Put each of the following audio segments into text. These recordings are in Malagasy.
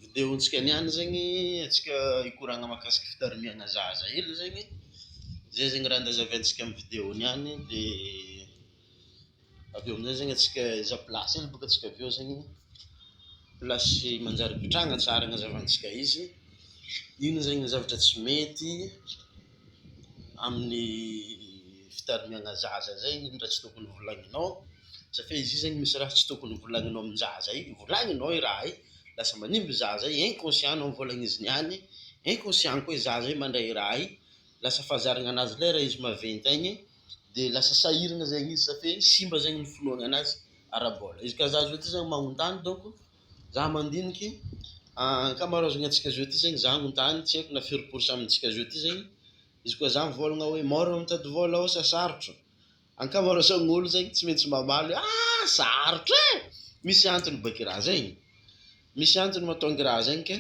Video ntsika niany zegny atsika hikoragna makasika fitarimiagna zaza hely zegny zay zegny raha andazaventsika am video niany de aveo amizay zegny atsika aiza plasy hely boka atsika aveo zegny plasy manjary ipitrahagna tsara agnazavantsika izy ino zegny ny zavatra tsy mety amin'ny fitarimiana zaza zay iny raha tsy tokony volagninao satria izy io zany misy raha tsy tokony volagninao amin'ny zaza iny volagninao i raha i lasa manimba i zaza i inconscient nao ny volagn'izy niany inconscient koa i zaza i mandray i raha i lasa fahazaragna anazy lay raha izy maventy agny de lasa sahiragna zegny izy satria simba zegny ny finoagna anazy ara-bola izy ka zaza io ty zany magnotany donko Za mandiniky ankamaroazagny antsika zao ty zegny za agnontany tsy aiko na firy pourcent amintsika zao ty zegny izy koa za mivôlagna hoe maro mitady vôla ô sa sarotro ankamaroazagn'olo zegny tsy maintsy mamaly hoe aa sarotro e misy antony bôka i raha zegny misy antony matonga i raha zegny ke.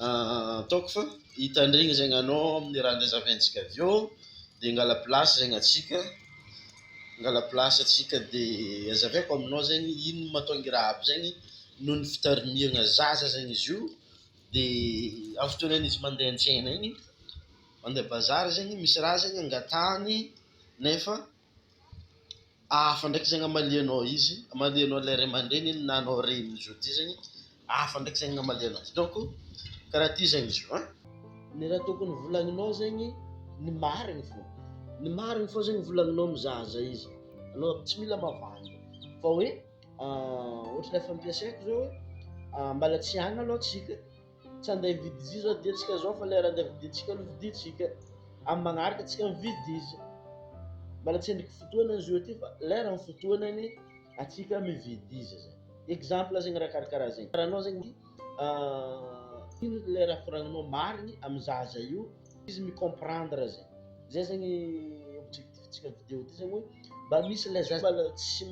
Ataoko fa hitandregny zegny anao amin'ny raha niresaventsika avy eo de hangala plasy zegny antsika, hangala plasy antsika de hazavaiko aminao zegny ino mahatonga i raha aby zegny noho ny fitarimiagna zaza zegny izy io de amin'ny fotoagnan'ny izy mandeha an-tsena igny mandeha bazary zegny misy raha zegny angatahany nefa Hafa ndraiky zegny amalianao izy, amalianao ilay ray aman-dreny na anao reny izy io ty zegny, hafa ndraiky zegny amalianao azy, donc karaha ty zegny izy io an. Ny raha tokony volagninao zegny ny marigny fô, ny marigny fô zegny volagninao mizaha zay izy, anao aby tsy mila mavandy fa hoe ôhatra efa ampiasaiko zao hoe mbala tsy agny aloha tsika. Tsy handeha hividy izy io zao dia antsika zao fa lera handeha vidintsika aloha vidintsika. Amin'ny magnaraka antsika mividy izy. Mbola tsy andriko fotoana izy io aty fa lera ny fotoanany antsika mividy izy zay. Exemple zegny raha karakaraha zegny. Karaha anao zegny ino le raha koragnanao marigny amy zaza io izy mi comprendre zegny. Zay zegny objectif-tsika amy vidéo ty zegny hoe mba misy le zaza mbola tsy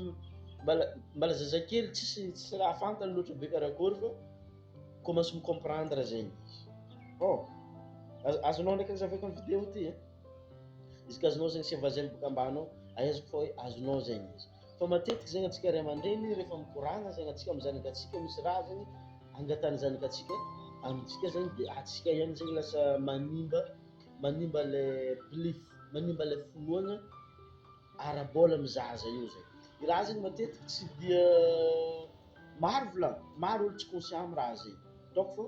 mbola mbola zazakely tsisy tsisy raha fantany loatra be karakôry fa. Commence mi comprendre zegny izy. Bon, azo azonao ndraiky ny zavako amin'ny vidéo ty e. Izy ka azonao zegny seva zegny boka ambany ao, ahaizako fa hoe azonao zegny izy. Fa matetiky zegny antsika ray aman-dreny rehefa mikoragna zegny antsika amin'ny zanakantsika misy raha zegny angatahan'ny zanakantsika amintsika zegny de antsika ihany zegny lasa manimba manimba le belief, manimba le finoagna. ara-bola amin'ny zaza eo zay. Ny raha zegny matetiky tsy dia maro volagny, maro olo tsy conscient amin'ny raha zegny, ataoko fô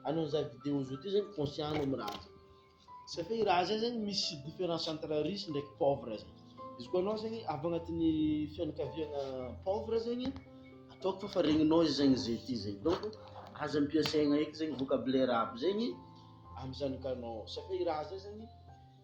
anao mizaha vidéo zao ty zegny conscient anao amin'ny raha zay, satria i raha zay zegny misy difference entre riche ndraiky pauvre zay, izy koa anao zegny avy agnatin'ny fianakaviana pauvre zegny, ataoko fô fa regninao izy zegny ze ty zegny, donc aza ampiasaigna eky zegny vocabulaire aby zegny amin'ny zanakanao, satria i raha zay zegny.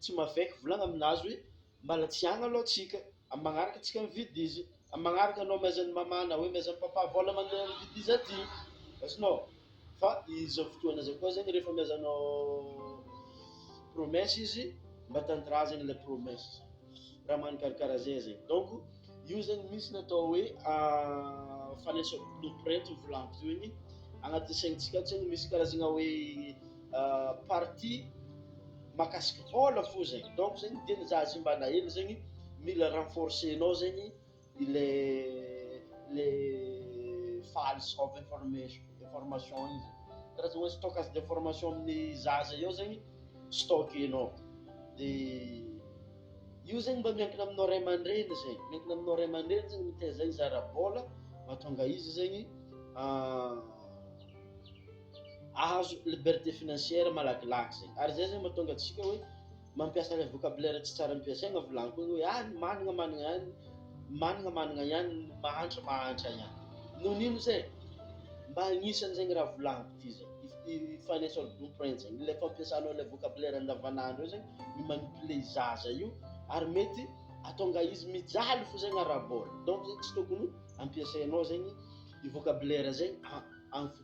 Tsy mavek volagna aminazy hoe mbala tsy agny aloha tsika, am magnaraka tsika mividy izy, am magnaraka anao miaiza ny mama na hoe miaiza ny papa vola mandeha mividy izy aty azonao, fa izao fotoagna zao koa zegny refa miaiza anao promesse izy mba tanindrazagna le promesse zany, raha magnano karakara zay zegny, donc io zegny misy ny atao hoe fanesoa blueprint io volagny io igny agnaty saintsika ao zegny misy karazagna hoe. parti makasika vola fo zay donc zegny tena za zay mba naelo zegny mila renforcenao zegny le le fal of information information igny zay karazana hoe stockage d'information amin'ny za zay eo zegny stockenao de io zegny mba miankina aminao ray aman-dreny zay miankina aminao ray aman-dreny zegny mitaiza izara-bola mahatonga izy zegny ahazo liberté financière malakilaky zay ary zay zay mahatonga antsika hoe mampiasa ilay vocabulaire tsy tsara ampiasaina volaninkony hoe ah ny manana manana ihany manana manana ihany ny mahantra mahantra ihany noho n'ino zay mba agnisan'izay ny raha volaniko ity zay i financial blueprint zay ilay fampiasanao ilay vocabulaire andavanandro io zay ny manipuler zaza io ary mety atonga izy mijaly fo zay ny arabola donc zay tsy tokony ampiasainao zay ny i vocabulaire zay amin'ny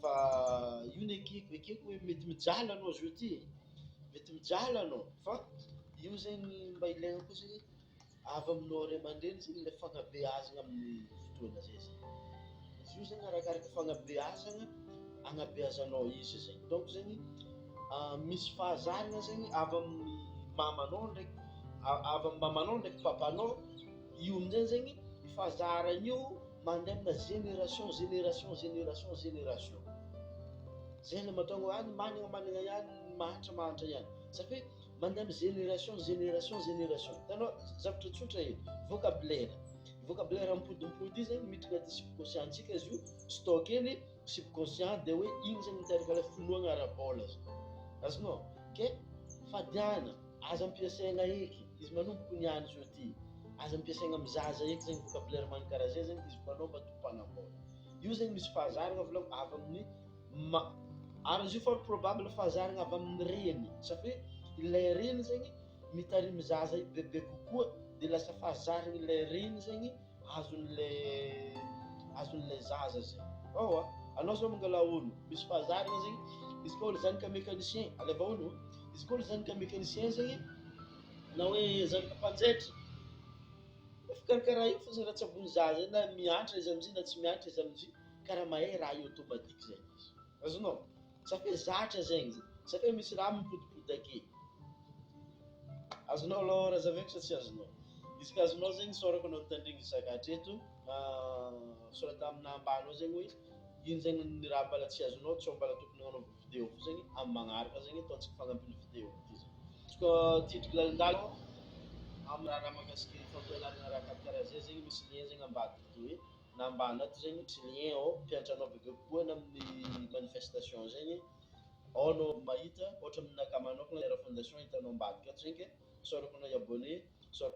Fa io ny ekeko ekeko hoe mety mijaly anao zao ty e, mety mijaly anao fa io zegny mba ilaina koa zegny avy aminao ray aman-dreny zegny ilay fanabeazana amin'ny fotoana zay zany, izy io zegny arakaraka fanabeazana anabeazanao izy zay, donc zegny misy fahazarana zegny avy amin'ny mamanao ndraiky avy amin'ny mamanao ndraiky papanao, io amin'izay zegny fahazaran'io. Mandry amina génération, génération, génération, génération. Zay le matonga any managna managna ihany ny mahantra mahantra ihany. Satria mandry amina génération, génération, génération. Hitanao zavatra tsotra e, vocabulaire. Vocabulaire mipodimpody io zany miditra anaty subconscient antsika izy io, stockeny subconscient dia hoe igny zany miteraka ilay finoagna ara-bola zany. Azonao? Ke fadiana. Aza ampiasaina eky izy manomboky ny any sur ty aza ampiasaina am zaza eky zegny vocabulaire man kara zay zegny izy mpanao matoa mpanambôla io zegny misy fahazaragna volagny avy aminy ma ary izy io fort probable fahazaragna avy aminy reny sa fe ilay reny zegny mitarimy zaza io bebe kokoa de lasa fahazaragny ilay reny zegny azon'le azon'le zaza zay ao a anao zao mangala olo misy fahazarana zegny izy koa olo zany ka mécanicien alaivo olo izy koa olo zany ka mécanicien zegny na hoe zanaka mpanjaitra fikarakara io fôzagny raha tsy ambony zaza na miantra izy amizay na tsy miantra izy amizay karaha mahay raha io automatique zay izy azonao Sa fe zatra zegny zay? Sa fe misy raha mipotipotake? Azonao alôha Razaveko sa tsy azonao? Izy ka azonao zegny isaorako anao nitandregny isaka hatreto, misaoraka tamina ambany eo zegny hoe ino zegny ny raha mbala tsy azonao sao mbala tokony hanaovana video koa zegny amin'ny magnaraka zegny ataontsika fagnampiny video ty zany. Izy koa titiko lalindalina amin'ny raharaha mahakasika ny fampianarana raha karakaraha zay zegny misy lien zegny ambadika de hoe. na mba anaty zegny tsy rien ao mpiantra anao bebe kokoana amin'ny manifestation zegny ao anao mahita ohatra amin'naka manokana Terra Fondation hitanao ambadika ato zegny ke sao araoko anao hi-abonner sao